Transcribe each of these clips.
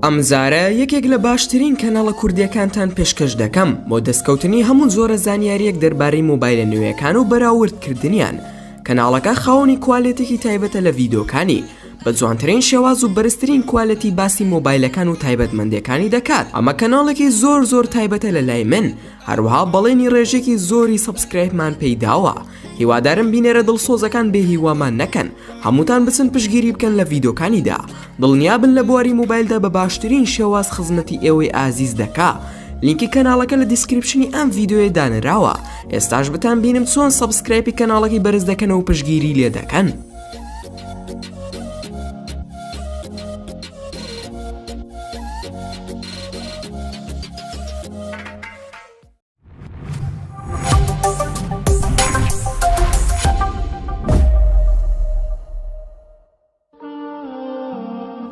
ئەم جارە یەکێک لە باشترین کەنەڵە کوردیەکانتان پێشکەش دەکەم بۆ دەستکەوتنی هەموو زۆرە زانیاریەک دەربارەی مۆبایلە نوێیەکان و بەراوردکردنیان کەناڵەکە خاوەنی کوالێتێکی تایبەتە لە ڤیدۆکانی بە جوانترین شێواز و بەرزترین کوالەتی باسی مۆبایلەکان و تایبەتمەندەکانی دەکات ئەمە کەناڵێکی زۆر زۆر تایبەتە لە لای من هەروها بەڵێنی ڕێژێکی زۆری سەبسکرایبمان پێیداوە هیوادارم بینەرە دڵسۆزەکان بێ هیوامان نەکەن هەمووتان بچن پشگیری بکەن لە ڤیدۆکانیدا دڵنیابن لە بواری موبایلدا بە باشترین شێواز خزمەتی ئێوەی ئازیز دەکا لینکی کەناڵەکە لە دیسکرپشنی ئەم ڤیددیوێ دانراوە ئێستاش بتان بینم چۆن سەبسکرایپی کەناڵەکەی بەرز دەکەنەوە پشگیری لێ دەکەن.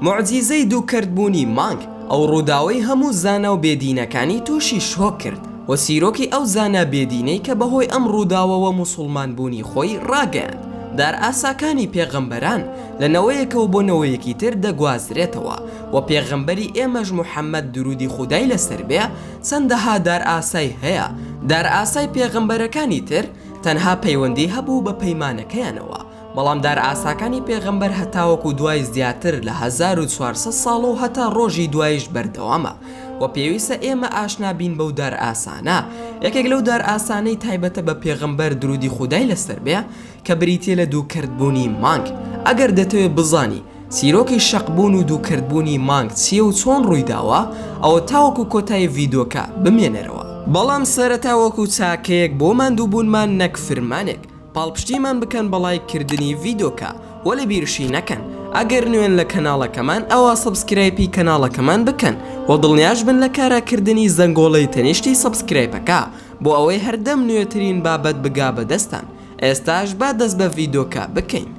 موعجیزەی دوو کەرت بوونی مانگ ئەو ڕووداوەی هەموو زانا و بێدینەکانی تووشی شۆک کرد و سیرۆکی ئەو زانا بێدینەی کە بەهۆی ئەم ڕووداوەوە موسڵمان بوونی خۆی ڕاگەیاند دار ئاساکانی پێغەمبەران لە نەوەیەکەوە بۆ نەوەیەکی تر دەگوازرێتەوە و پێغەمبەری ئێمەش محەممەد درودی خودای لەسەر بێ چەندەها دارئاسای هەیە، دارئاسای پێغەمبەرەکانی تر تەنها پەیوەندی هەبوو بە پەیمانەکەیانەوە، بەڵام دارئاساکانی پێغەمبەر هەتاوەکو دوای زیاتر لە هەزار و چوار سەد ساڵ و هەتا ڕۆژی دوایش بەردەوامە و پێویستە ئێمە ئاشنا بین بەو دارئاسانە، یەکێک لەو دارئاسانەی تایبەتە بە پێغەمبەر درودی خودای لەسەر بێ، کە بریتیە لە دووکەرتبوونی مانگ. ئەگەر دەتەوێت بزانی چیرۆکی شەقبوون و دووکەرتبوونی مانگ چیە و چۆن ڕوویداوە ئەوە تاوەکو کۆتایی ڤیدۆکە بمێنەرەوە. بەڵام سەرەتا وەکو چاکەیەک بۆ ماندووبوونمان نەک فرمانێک پاڵپشتیمان بکەن بە ڵایک کردنی ڤیدۆکە وە لە بیرشی نەکەن ئەگەر نوێن لە کەناڵەکەمان ئەوا سەبسکرایپی کەناڵەکەمان بکەن وە دڵنیاشبن لە کارا کردنی زەنگۆڵەی تەنیشتی سەبسکرایپەکە بۆ ئەوەی هەردەم نوێترین بابەت بگا بە دەستان ئێستاش با دەست بە ڤیدۆکە بکەین.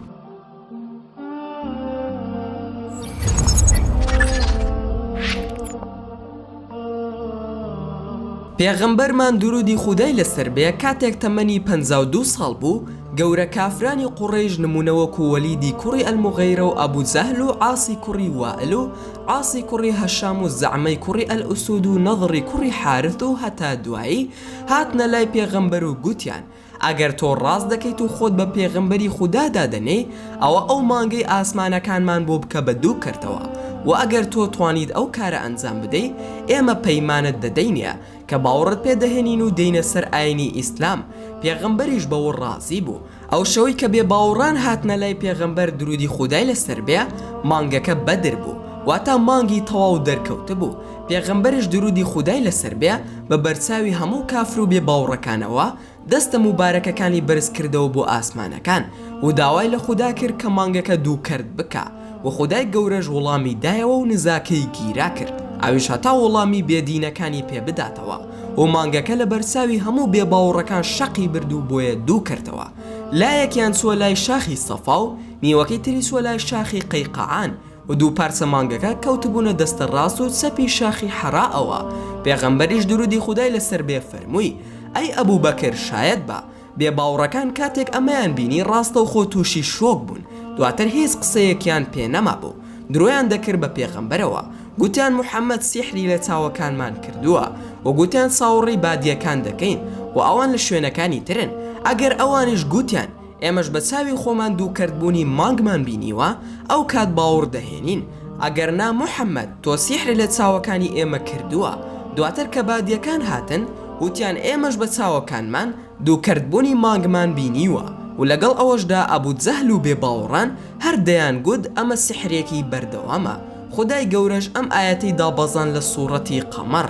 پێغەمبەرمان دروودی خودای لەسەر بێ کاتێک تەمەنی پەنجا و دوو ساڵ بوو گەورە کافرانی قوڕەیش نموونە وەکو وەلیدی کوڕی ئەلموغیرە و ئەبو جەهل و عاسی کوڕی وائل و عاسی کوڕی هەشام و زەعمەی کوڕی ئەلئوسود و نەضڕی کوڕی حارث و هەتا دوایی هاتنە لای پێغەمبەر و گوتیان ئەگەر تۆ ڕاست دەکەیت و خۆت بە پێغەمبەری خودا دادەنێی، ئەوە ئەو مانگەی ئاسمانەکانمان بۆ بکە بە دوو کەرتەوە، وە ئەگەر تۆ توانیت ئەو کارە ئەنجام بدەی، ئێمە پەیمانت دەدەینێ کە باوڕت پێ دەهێنین و دێینە سەر ئاینی ئیسلام، پێغەمبەریش بەوە ڕازی بوو. ئەو شەوەی کە بێ باوڕان هاتنە لای پێغەمبەر دروودی خودای لەسەر بێ، مانگەکە بەدر بوو، واتە مانگی تەواو دەرکەوتبوو، پێغەمبەرش دروودی خودای لەسەر بێ بە بەرچاوی هەموو کافر و بێ باوڕەکانەوە دەستە موبارەکەکانی بەرز کردەوە بۆ ئاسمانەکان و داوای لە خودا کرد کە مانگەکە دوو کەرت بکا و خودای گەورەش وڵامی دایەوە و نزاکەی گیرا کرد ئەویش هەتا وڵامی بێ دینەکانی پێ بداتەوە و مانگەکە لە بەرچاوی هەموو بێ باوڕەکان شەقی برد و بۆیە دوو کەرتەوە لایەکیان چووە لای شاخی سەفا و نیوەکەی تری چووە لای شاخی قەیقەعان و دوو پارچە مانگەکە کەوتبوونە دەستە ڕاست و چەپی شاخی حەڕا ەوە، پێغەمبەریش درودی خودای لەسەر بێ فەرمووی، ئەی ئەبو بەکر شایەت بە، بێ باوڕەکان کاتێک ئەمەیان بینی ڕاستەوخۆ تووشی شۆک بوون، دواتر هیچ قسەیەکیان پێ نەمابوو، درۆیان دەکرد بە پێغەمبەرەوە، گوتیان محمد سیحری لە چاوەکانمان کردووە، وە گوتیان چاوڕی بادیەکان دەکەین، وە ئەوان لە شوێنەکانی ترن، ئەگەر ئەوانیش گوتیان، ئێمەش بە چاوی خۆمان دوو کەرت بوونی مانگمان بینیوە ئەو کات باوڕ دەهێنین ئەگەر نا محمد تۆ سیحر لە چاوەکانی ئێمە کردووە دواتر کە بادیەکان هاتن وتیان ئێمەش بە چاوەکانمان دوو کەرت بوونی مانگمان بینیوە و لەگەڵ ئەوەشدا ئەبو جەهل و بێ باوڕان هەر دەیان گوت ئەمە سیحرێکی بەردەوامە خودای گەورەش ئەم ئایەتەی دابەزاند لە سوڕەتی قەمەڕ.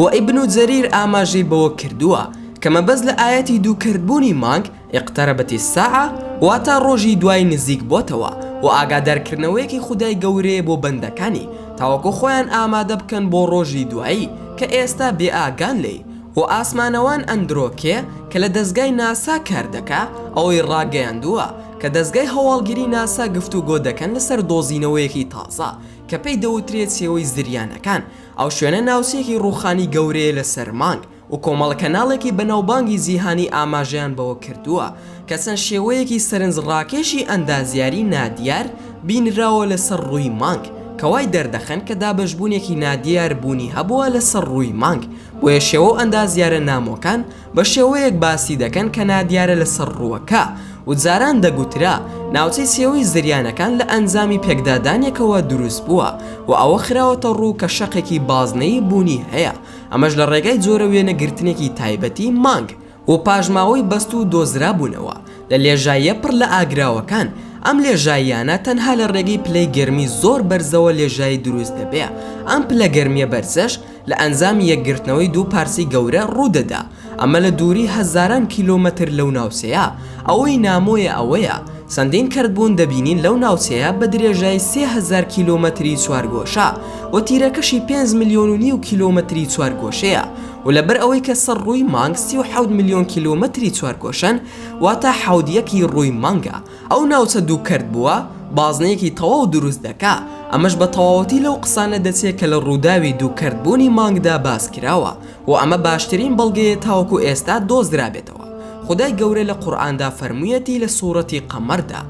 وە ئیبن جەریر ئاماژەی بەوە کردووە کە مەبەست لە ئایەتی دووکەرتبوونی مانگ، اقتربت الساعە، واتا ڕۆژی دوای نزیک بۆتەوە، وە ئاگادارکردنەوەیەکی خودای گەورەیە بۆ بەندەکانی تاوەکو خۆیان ئامادە بکەن بۆ ڕۆژی دوایی کە ئێستا بێ ئاگان لێی، وە ئاسمانەوان ئەندرۆکێ کە لە دەزگای ناسا کار دەکا ئەوەی ڕاگەیاندووە کە دەزگای هەواڵگری ناسا گفتوگۆ دەکەن لەسەر دۆزینەوەیەکی تازە کە پێی دەوترێت سێوەی زریانەکان، ئەو شوێنە ناوچەیەکی ڕووخانی گەورەیە لەسەر مانگ، و کۆمەڵە کەناڵێکی بەناوبانگی جیهانی ئاماژەیان بەوە کردووە کە چەند شێوەیەکی سەرنجڕاکێشی ئەندازیاری نادیار بینراوە لەسەر ڕووی مانگ کە وای دەردەخەن کە دابەشبوونێکی نادیار بوونی هەبووە لەسەر ڕووی مانگ بۆیە شێوە و ئەندازیارە نامۆکان بە شێوەیەک باسی دەکەن کە نادیارە لەسەر ڕووەکە و جاران دەگوترا ناوچەی سێوەی زریانەکان لە ئەنجامی پێکدادانێکەوە دروست بووە و ئەوە خراوەتە ڕوو کە شەقێکی بازنەیی بوونی هەیە ئەمەش لە ڕێگای جۆرە وێنەگرتنێکی تایبەتی مانگ و پاشماوەی بەستوو دۆزرابوونەوە لە لێژاییە پڕ لە ئاگراوەکان ئەم لێژاییانە تەنها لە ڕێگەی پلەی گەرمی زۆر بەرزەوە لێژایی دروست دەبێ ئەم پلە گەرمیە بەرزەش لە ئەنجامی یەکگرتنەوەی دوو پارچەی گەورە ڕوودەدا، ئەمە لە دووری هەزاران کیلۆمەتر لەو ناوچەیە، ئەوەی نامۆیە ئەوەیە چەندین کەرتبوون دەبینین لەو ناوچەیە بە درێژای سێ هەزار کیلۆمەتری چوارگۆشە و تیرەکەشی پێنج ملیۆن و نیو کیلۆمەتری چوارگۆشەیە و لەبەر ئەوەی کە سەر ڕووی مانگ سی و حەوت ملیۆن کیلۆمەتری چوارگۆشەن واتە حەوت یەکی ڕووی مانگە ئەو ناوچە دوو کەرت بووە بازنەیەکی تەواو دروست دەکا، ئەمەش بە تەواوەتی لەو قسانە دەچێ کە لە ڕووداوی دوو کەرت بوونی مانگدا باس کراوە و ئەمە باشترین بەڵگەیە تاوەکو ئێستا دۆزرابێتەوە خودای گەورە لە قورئاندا فەرموویەتی لە سوڕەتی قەمەردا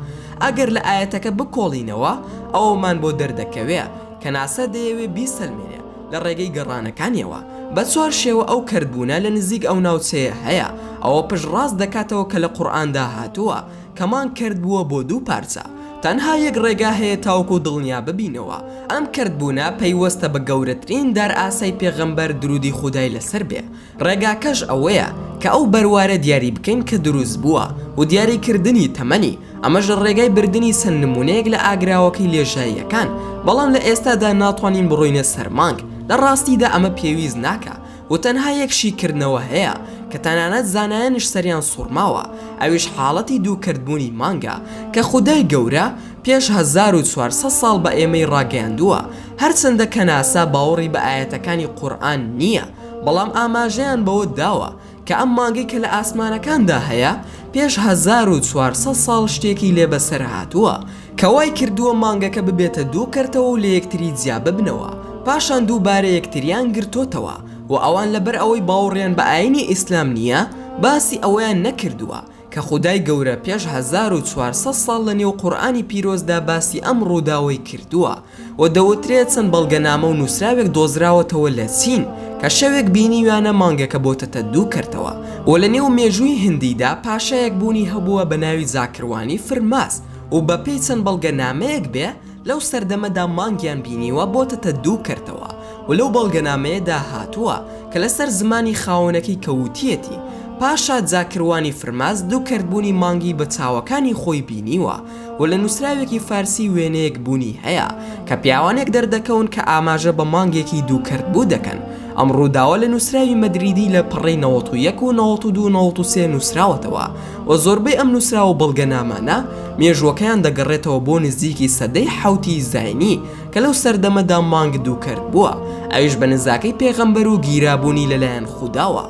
ئەگەر لە ئایەتەکە بکۆڵینەوە ئەوەمان بۆ دەردەکەوێ کە ناسا دەیەوێ بیسەلمێنێ لە ڕێگەی گەڕانەکانیەوە بە چوار شێوە ئەو کەرت بوونە لە نزیک ئەو ناوچەیە هەیە ئەوە پشت ڕاست دەکاتەوە کە لە قورئاندا هاتووە کەمان کردبووە بۆ دوو پارچە، تەنها یەک ڕێگا هەیە تاوەکو دڵنیا ببینەوە ئەم کردبوونە پەیوەستە بە گەورەترین دارئاسای پێغەمبەر درودی خودای لەسەر بێ، ڕێگاکەش ئەوەیە کە ئەو بەروارە دیاری بکەین کە دروست بووە و دیاری کردنی تەمەنی، ئەمەش لە ڕێگای بردنی چەند نمونەیەک لە ئاگراوەکەی لێژاییەکان، بەڵام لە ئێستادا ناتوانین بڕۆینە سەر مانگ، لە ڕاستیدا ئەمە پێویست ناکا، و تەنها یەک شیکردنەوە هەیە کە تەنانەت زانایانیش سەریان سوڕماوە ئەویش حاڵەتی دووکەرت بوونی مانگە کە خودای گەورە پێش هەزار و چوار سەد ساڵ بە ئێمەی ڕاگەیاندووە هەرچەندە کەناسا باوەڕی بە ئایەتەکانی قورئان نیە بەڵام ئاماژەیان بەوە داوە کە ئەم مانگەی کە لە ئاسمانەکاندا هەیە پێش هەزار و چوار سەد ساڵ شتێکی لێ بەسەر هاتووە کە وای کردووە مانگەکە ببێتە دوو کەرتەوە و لەیەکتری جیاببنەوە، پاشان دووبارە یەکتریان گرتۆتەوە و ئەوان لەبەر ئەوەی باوەڕیان بە ئاینی ئیسلام نییە باسی ئەوەیان نەکردووە کە خودای گەورە پێش هەزار و چوار سەد ساڵ لەنێو قورئانی پیرۆزدا باسی ئەم ڕووداوەی کردووە و دەوترێت چەند بەڵگەنامە و نووسراوێک دۆزراوەتەوە لە چین کە شەوێک بینیویانە مانگەکە بۆتەتە دوو کەرتەوە و لە نێو مێژووی هندیدا پاشایەک بوونی هەبووە بە ناوی زاکروانی فرماس و بە پێی چەند بەڵگەنامەیەک بێ لەو سەردەمەدا مانگیان بینیوە بۆتەتە دوو کەرتەوە و لەو بەڵگەنامەیەدا هاتووە کە لەسەر زمانی خاوەنەکەی کە وتیەتی پاشا زاکروانی فرماس دوو کەرت بوونی مانگی بە چاوەکانی خۆی بینیوە و لە نووسراوێکی فارسی وێنەیەک بوونی هەیە کە پیاوانێک دەردەکەون کە ئاماژە بە مانگێکی دووکەرتبوو دەکەن، ئەم ڕووداوە لە نووسراوی مەدریدی لە پەڕەی نەوەت و یەک و نەوەت و دوو و نەوەت و سێ نووسراوەتەوە و زۆربەی ئەم نووسراو و بەڵگەنامانە مێژووەکەیان دەگەڕێتەوە بۆ نزیکی سەدەی حەوتی زاینی کە لەو سەردەمەدا مانگ دووکەرت بووە ئەویش بە نزاکەی پێغەمبەر و گیرابوونی لەلایەن خوداوە.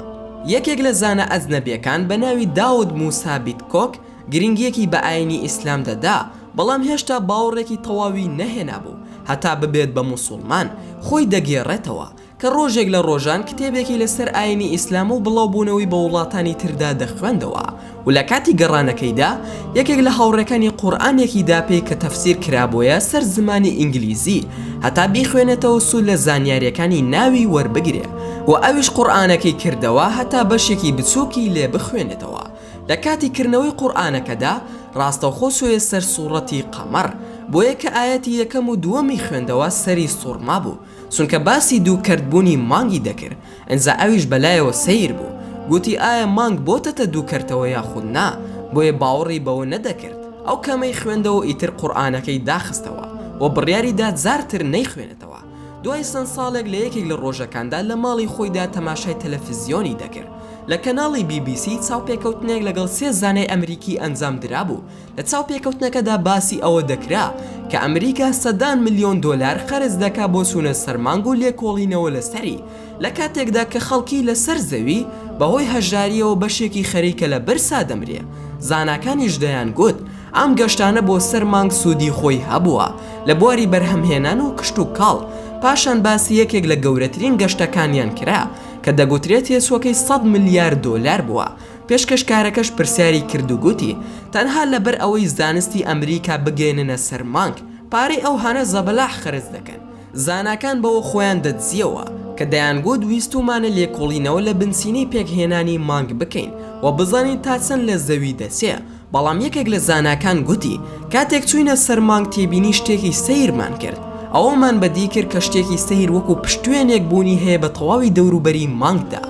یەکێک لە زانا ئەجنەبیەکان بە ناوی داود موسا بیتکۆک، گرنگیەکی بە ئاینی ئیسلام دەدا بەڵام هێشتا باوەڕێکی تەواوی نەهێنابوو هەتا ببێت بە موسوڵمان، خۆی دەگێڕێتەوە کە ڕۆژێک لە ڕۆژان کتێبێکی لەسەر ئاینی ئیسلام و بڵاوبوونەوەی بە وڵاتانی تردا دەخوێندەوە و لە کاتی گەڕانەکەیدا یەکێک لە هاوڕێکانی قورئانێکی دا پێی کە تەفسیر کرابۆیە سەر زمانی ئینگلیزی هەتا بیخوێنێتەوە سوود لە زانیاریەکانی ناوی وەربگرێ و ئەویش قورئانەکەی کردەوە هەتا بەشێکی بچووکی لێ بخوێنێتەوە لە کاتی کردنەوەی قورئانەکەدا ڕاستەوخۆ سوێ سەر سوڕەتی قەمەڕ بۆیە کە ئایەتی یەکەم و دووەمی خوێندەوە سەری سوڕما بوو چونکە باسی دوو کەرت بوونی مانگی دەکرد ئنجا ئەویش بەلایەوە سەیر بوو گووتی ئایا مانگ بۆتەتە دوو کەرتەوە یاخود نا بۆیە باوەڕی بەوە نەدەکرد ئەو کەمەی خوێندەوە ئیتر قورئانەکەی داخستەوە و بڕیاری دا جار تر نەیخوێنێتەوە. دوای چەند ساڵێک لە یەکێک لە ڕۆژەکاندا لە ماڵی خۆیدا تەماشای تەلەفزیۆنی دەکرد لە کەناڵی بی بی سی چاوپێکەوتنێک لەگەڵ سێ زانای ئەمریکی ئەنجام درابوو لە چاوپێکەوتنەکەدا باسی ئەوە دەکرا کە ئەمریکا سەدان ملیۆن دۆلار خەرج دەکا بۆ چوونە سەر مانگ و لێکۆڵینەوە لەسەری لە کاتێکدا کە خەڵکی لە سەر زەوی بە هۆی هەژارییەوە بەشێکی خەریکە لە برسا دەمرێ، زاناکانیش دەیان گوت ئەم گەشتانە بۆ سەر مانگ سوودی خۆی هەبووە لە بواری بەرهەمهێنان و کشتوکاڵ، پاشان باسی یەکێک لە گەورەترین گەشتەکانیان کرا کە دەگوترێ تێچووەکەی سەد ملیار دۆلار بووە، پێشکەشکارەکەش پرسیاری کرد و گوتی تەنها لە بەر ئەوەی زانستی ئەمریکا بگەیەننە سەر مانگ پارەی ئەوهانە زەبەلاح خەرج دەکەن، زاناکان بەوە خۆیان دەدزییەوە کە دەیانگوت ویستوومانە لێکۆڵینەوە لە بنچینەی پێکهێنانی مانگ بکەین و بزانین تا چەند لە زەوی دەچێ، بەڵام یەکێک لە زاناکان گوتی کاتێک چووینە سەر مانگ تێبینی شتێکی سەیرمان کرد، ئەوەمان بەدی کرد کە شتێکی سەیر وەکوو پشتوێنێک بوونی هەیە بە تەواوی دەوروبەری مانگدا،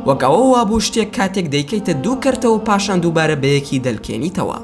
وەک ئەوە وابوو شتێک کاتێک دەیکەیتە دوو کەرتە و پاشان دووبارە بەیەکی دەلکێنیتەوە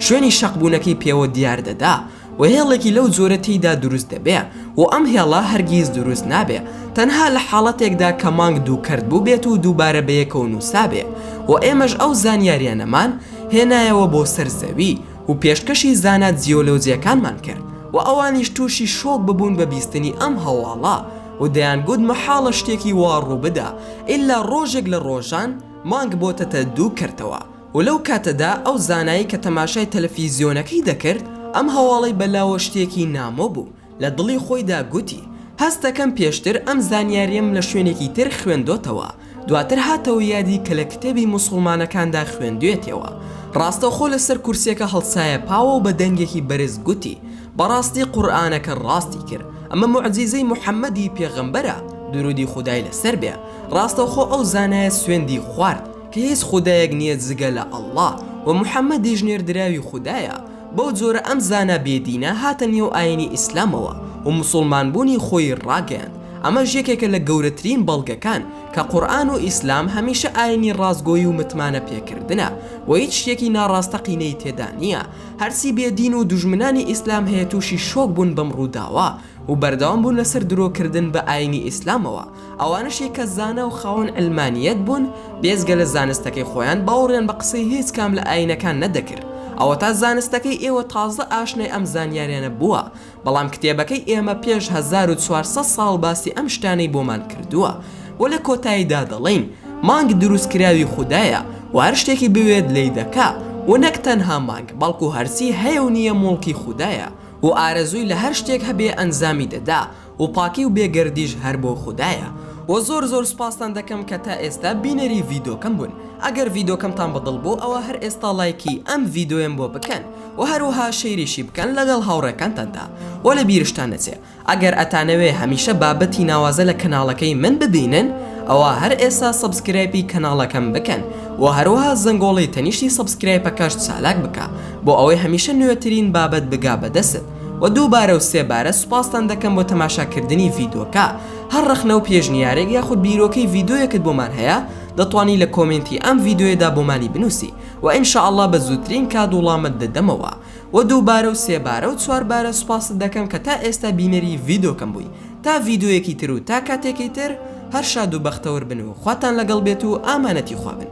شوێنی شەقبوونەکەی پێوە دیار دەدا. و هێڵێکی لەو جۆرە تێیدا دروست دەبێ و ئەم هێڵە هەرگیز دروست نابێ تەنها لە حاڵەتێکدا کە مانگ دوو کەرت بووبێت و دووبارە بەیەکەوە نووسابێ و ئێمەش ئەو زانیاریانەمان هێنایەوە بۆ سەر زەوی و پێشکەشی زانا جیۆلۆجیەکانمان کرد و ئەوانیش تووشی شۆک ببوون بە بیستنی ئەم هەواڵە و دەیانگوت مەحاڵە شتێکی وا ڕووبدا ئیلا ڕۆژێک لە ڕۆژان مانگ بۆتەتە دوو کەرتەوە و لەو کاتەدا ئەو زانایەی کە تەماشای تەلەفیزیۆنەکەی دەکرد ئەم هەواڵەی بە لاوە شتێکی نامۆ بوو لە دڵی خۆیدا گوتی هەستەکەم پێشتر ئەم زانیاریەم لە شوێنێکی تر خوێندۆتەوە دواتر هاتەوە یادی کە لە کتێبی موسوڵمانەکاندا خوێندوێتیەوە ڕاستەوخۆ لە سەر کورسیەکە هەڵسایە پاوە و بە دەنگێکی بەرز گوتی بەڕاستی قورئانەکە ڕاستی کرد ئەمە موعجیزەی موحەمەدی پێغەمبەرە دروودی خودای لەسەر بێ ڕاستەوخۆ ئەو زانایە سوێندی خوارد هیچ خودایەک نیە جگە لە اللە وە محمدیش نێردراوی خودایە بەو جۆرە ئەم زانا بێ دینە هاتە نێو ئاینی ئیسلامەوە و موسوڵمان بوونی خۆی ڕاگەیاند ئەمەش یەکێکە لە گەورەترین بەڵگەکان کە قورئان و ئیسلام هەمیشە ئاینی ڕاستگۆی و متمانە پێکردنە و هیچ شتێکی ناڕاستەقینەی تێدا نیە هەرچی بێ دین و دوژمنانی ئیسلام هەیە توشی شۆک بوون بەم ڕووداوە و بەردەوام بوون لەسەر درۆ کردن بە ئاینی ئیسلامەوە ئەوانەشی کە زانا و خاوەن عەلمانییەت بوون، بێجگە لە زانستەکەی خۆیان، باوەڕیان بە قسەی هیچ کام لە ئایینەکان نەدەکرد. ئەوەتا زانستەکەی ئێوە تازە ئاشنای ئەم زانیاریانە بووە، بەڵام کتێبەکەی ئێمە پێش هەزار و چوار سەد ساڵ باسی ئەم شتانەی بۆمان کردووە و لە کۆتاییدا دەڵین، مانگ دروستکراوی خودایە و هەر شتێکی بوێت لێی دەکا و نەک تەنها مانگ، بەڵکو هەرچی هەیە و نییە موڵکی خودایە و ئارەزووی لە هەر شتێک هەبێ ئەنجامی دەدا. و پاکی و بێ گەردیش هەر بۆ خودایە وە زۆر زۆر سوپاستان دەکەم کە تا ئێستا بینەری ڤیدۆکەم بوون ئەگەر ڤیدۆکەمتان بە دڵ بوو ئەوا هەر ئێستا ڵایکی ئەم ڤیدۆیەم بۆ بکەن وە هەروەها شەیریشی بکەن لەگەڵ هاوڕێکانتاندا وە لە بیرشتان نەچێ ئەگەر ئەتانەوێ هەمیشە بابەتی ناوازە لە کەناڵەکەی من ببینن ئەوا هەر ئێستا سەبسکرایپی کەناڵەکەم بکەن وە هەروەها زەنگۆڵی تەنیشتی سەبسکرایپەکەشت چالاک بکە بۆ ئەوەی هەمیشە نوێترین بابەت بگا بە دەستت. وە دوو بارە و سێ بارە سوپاستان دەکەم بۆ تەماشا کردنی ڤیدۆکە هەر ڕەخنە و پێشنیارێک یاخود بیرۆکەی ڤیدۆیەکت بۆمان هەیە دەتوانی لە کۆمێنتی ئەم ڤیدۆیەدا بۆمانی بنوسی وە ان شاء اللە بە زووترین کات وڵامت دەدەمەوە وە دوو بارە و سێ بارە و چوار بارە سوپاست دەکەم کە تا ئێستا بینەری ڤیدۆکەم بووی تا ڤیدۆیەکی تر و تا کاتێکی تر هەر شاد و بەختەور بن و خواتان لەگەڵ بێت و ئامانەتی خوا بن.